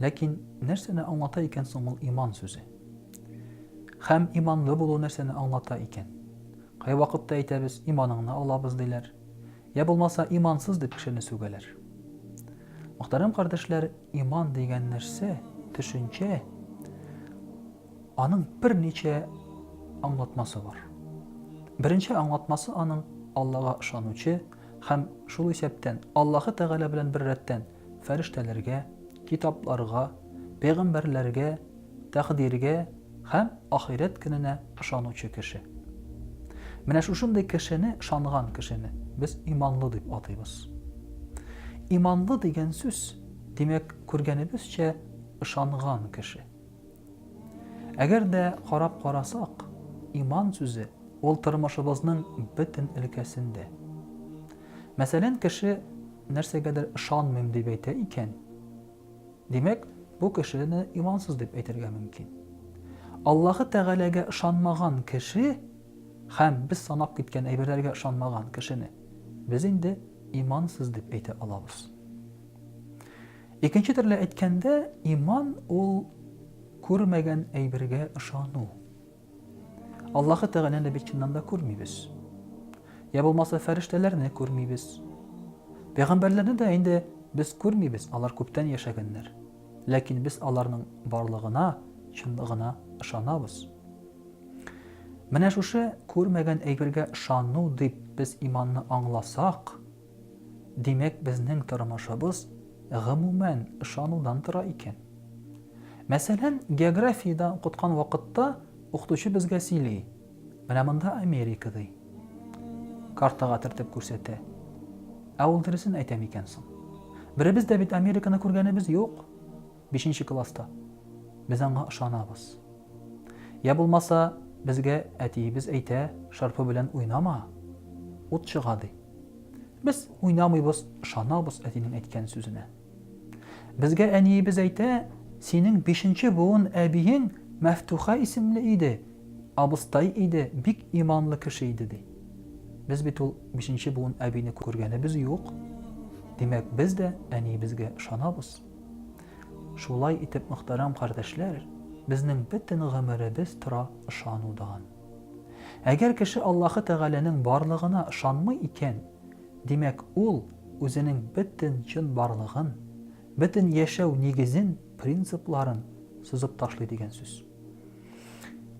Ләкин нәрсәне аңлата икән соң ул иман сүзе? Хәм иманлы булу нәрсәне аңлата икән? Кай вакытта әйтәбез, иманыңны алабыз диләр. Я булмаса, имансыз дип кешене сүгәләр. Мөхтәрәм кардәшләр, иман дигән нәрсә, төшенчә, аның бер ничә аңлатмасы бар. Беренче аңлатмасы аның Аллага ышанучы һәм шул исәптән Аллаһы Тәгалә белән бер рәттән фәрештәләргә, китапларга, пәйгамбәрләргә, тәкъдиргә һәм ахирәт көненә ышанучы кеше. Менә шушындый кешене, ышанган кешене без иманлы дип атыйбыз. Иманлы дигән сүз, димәк, күргәнебезчә, ышанган кеше. Әгәр дә карап карасак, иман сүзе ул тормышыбызның бөтен өлкәсендә. Мәсәлән, кеше нәрсәгәдер ышанмыйм дип әйтә икән, димәк, бу кешене имансыз дип әйтергә мөмкин. Аллаһы Тәгаләгә ышанмаган кеше һәм без санап киткән әйберләргә ышанмаган кешене без инде имансыз дип әйтә алабыз. Икенче төрле әйткәндә, иман ул күрмәгән әйбергә ышану. Аллаһы Тәгаләне бит чыннан да күрмибез. Я булмаса фәрештәләрне күрмибез. Пәйгамбәрләрне дә инде без күрмибез, алар күптән яшәгәннәр. Ләкин без аларның барлыгына, чынлыгына ышанабыз. Менә шушы күрмәгән әйбергә ышану дип без иманны аңласак, Димәк, безнең тормышыбыз, гомумән, ышанудан тора икән. Мәсәлән, географиядә укыткан вакытта укытучы безгә сөйли, менә монда Америка, ди. Картага төртеп күрсәтә. Ә ул дөресен әйтә микән соң? Беребез дә бит Американы күргәнебез юк, бишенче класста. Без аңа ышанабыз. Я булмаса, безгә әтиебез әйтә, шырпы белән уйнама, ут чыга, ди. Без уйнамыйбыз, ышанабыз әтинең әйткән сүзенә. Безгә әниебез әйтә, синең бишенче буын әбиең Мәфтуха исемле иде, абыстай иде, бик иманлы кеше иде, ди. Без бит ул бишенче буын әбине күргәнебез юк. Димәк, без дә әниебезгә ышанабыз. Шулай итеп, мөхтәрәм кардәшләр, безнең бөтен гомеребез тора ышанудан. Әгәр кеше Аллаһы Тәгаләнең барлыгына ышанмый икән, димәк, ул үзенең бөтен чынбарлыгын, бөтен яшәү нигезен, принципларын сызып ташлый дигән сүз.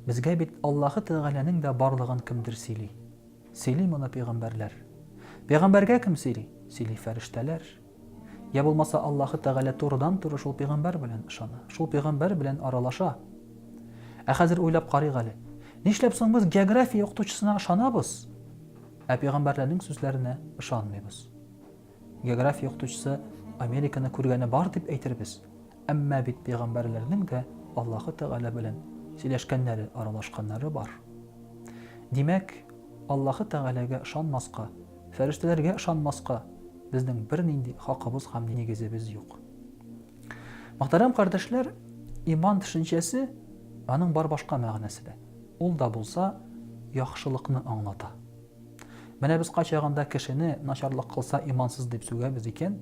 Безгә бит Аллаһы Тәгаләнең дә барлыгын кемдер сөйли. Сөйли моны пәйгамбәрләр. Пәйгамбәргә кем сөйли? Сөйли фәрештәләр. Йә булмаса Аллаһы Тәгалә турыдан-туры шул пигамбәр белән ышана, шул пигамбәр белән аралаша. Ә хәзер уйлап карыйк әле, нишләп соң без география укытучысына ышанабыз, ә пигамбәрләрнең сүзләренә ышанмыйбыз? География укытучысы Американы күргәне бар дип әйтербез, әмма бит пигамбәрләрнең дә Аллаһы Тәгалә белән сөйләшкәннәре, аралашканнары бар. Димәк, Аллаһы Тәгаләгә ышанмаска Фәрештәләргә ышанмаска безнең бернинди хакыбыз һәм нигезебез юк. Мөхтәрәм кардәшләр, иман төшенчәсе аның бар башка мәгънәсе дә. Ул да булса яхшылыкны аңлата. Менә без кайчагында кешене начарлык кылса имансыз дип сүгәбез икән,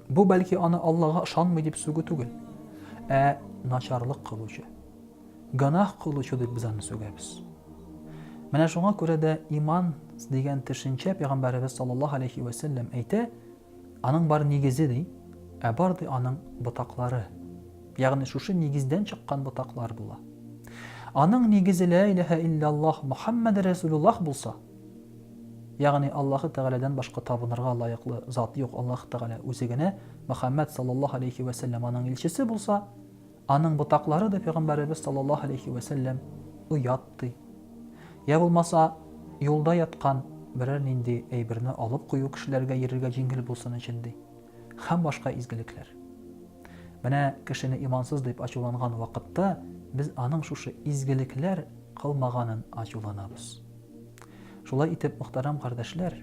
бу бәлки аны Аллага ышанмый дип сүгү түгел, ә начарлык кылучы. Гөнаһ кылучы дип без аны сүгәбез. Менә шуңа күрә дә иман дигән төшенчә пәйгамбәребез саллаллаһу алейхи вә сәлләм әйтә, аның бар нигезе ди, ә бар ди аның ботаклары. Ягъни шушы нигездән чыккан ботаклар була. Аның нигезе ла илаһа илляллаһ Мухаммад Расулуллаһ булса, ягъни Аллаһы Тәгаләдән башка табынырга лаеклы зат юк, Аллаһ Тәгалә үзе генә, Мухаммад саллаллаһу алейхи вә сәлләм аның илчесе булса, Аның ботаклары да пәйгамбәребез саллаллаһу алейһи вә сәлләм оят ди. Йә булмаса, юлда яткан берәр нинди әйберне алып кую кешеләргә йөрергә җиңел булсын өчен ди. Һәм башка изгелекләр. Менә кешене имансыз дип ачуланган вакытта без аның шушы изгелекләр кылмаганын ачуланабыз. Шулай итеп, мөхтәрәм кардәшләр,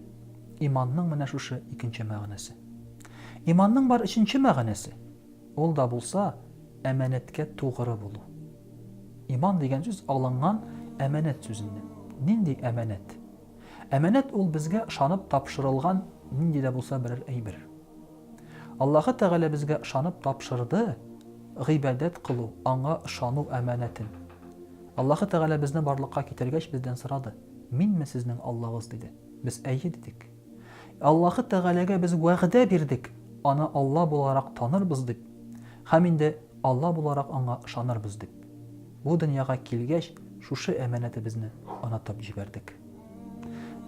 иманның менә шушы икенче мәгънәсе. Иманның бар өченче мәгънәсе. Ул да булса, әманәткә тугры булу. Иман дигән сүз алынган әманәт сүзеннән. Нинди әманәт? Әманәт ул безгә ышанып тапшырылган нинди дә булса берәр әйбер. Аллаһы Тәгалә безгә ышанып тапшырды гыйбадәт кылу, аңа ышану әманәтен. Аллаһы Тәгалә безне барлыкка китергәч бездән сорады, Минме сезнең Аллагыз? диде. Без әйе дидек. Аллаһы Тәгаләгә без вәгъдә бирдек, Аны Алла буларак танырбыз дип, һәм инде Алла буларак Аңа ышанырбыз дип. Бу дөньяга килгәч, шушы әманәтебезне онытып җибәрдек.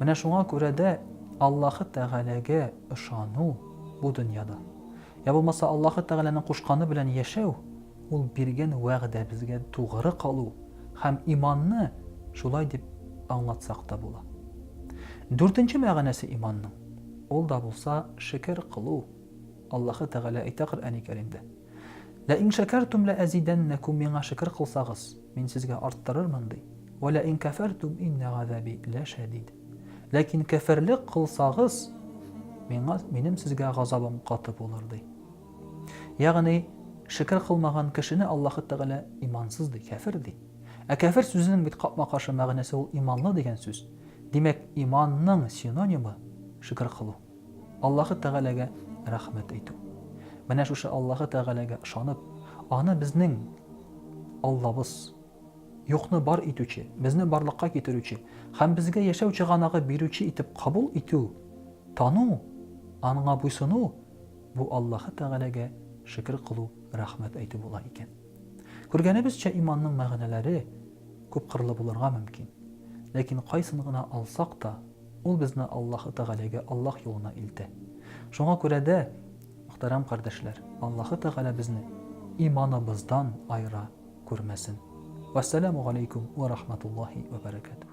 Менә шуңа күрә дә Аллаһы Тәгаләгә ышану бу дөньяда, я булмаса Аллаһы Тәгаләнең кушканы белән яшәү, Ул биргән вәгъдәбезгә тугры калу һәм иманны шулай дип аңлатсак та була. Дүртенче мәгънәсе иманның, ул да булса шөкер кылу. Аллаһы Тәгалә әйтә Коръәни Кәримдә, Лә ин шәкәртүм лә әзидәннәкүм, миңа шөкер кылсагыз, мин сезгә арттырырмын, ди. Вә лә ин кәфәртүм иннә газәби лә шәдид. Ләкин кәферлек кылсагыз, миңа, минем сезгә газабым каты булыр, ди. Ягъни, шөкер кылмаган кешене Аллаһы Тәгалә имансыз ди, кяфер ди. Ә кяфер сүзенең бит капма-каршы мәгънәсе ул иманлы дигән сүз. Димәк, иманның синонимы, шөкер кылу. Аллаһы Тәгаләгә рәхмәт әйтү. Менә шушы Аллаһы Тәгаләгә ышанып, аны безнең Аллабыз, юкны бар итүче, безне барлыкка китерүче һәм безгә яшәү чыганагы бирүче итеп кабул итү, тану, аңа буйсыну Бу Аллаһы Тәгаләгә шөкер кылу, рәхмәт әйтү була икән. Күргәнебезчә, иманның мәгънәләре күпкырлы булырга мөмкин. Ләкин кайсын гына алсак та, ул безне Аллаһы Тәгаләгә, Аллаһ юлына илтә. Шуңа күрә дә, мөхтәрәм кардәшләр, Аллаһы Тәгалә безне иманыбыздан аера күрмәсен. Вәссәламү галәйкүм вә рахматуллаһи вә бәрәкәтүһ.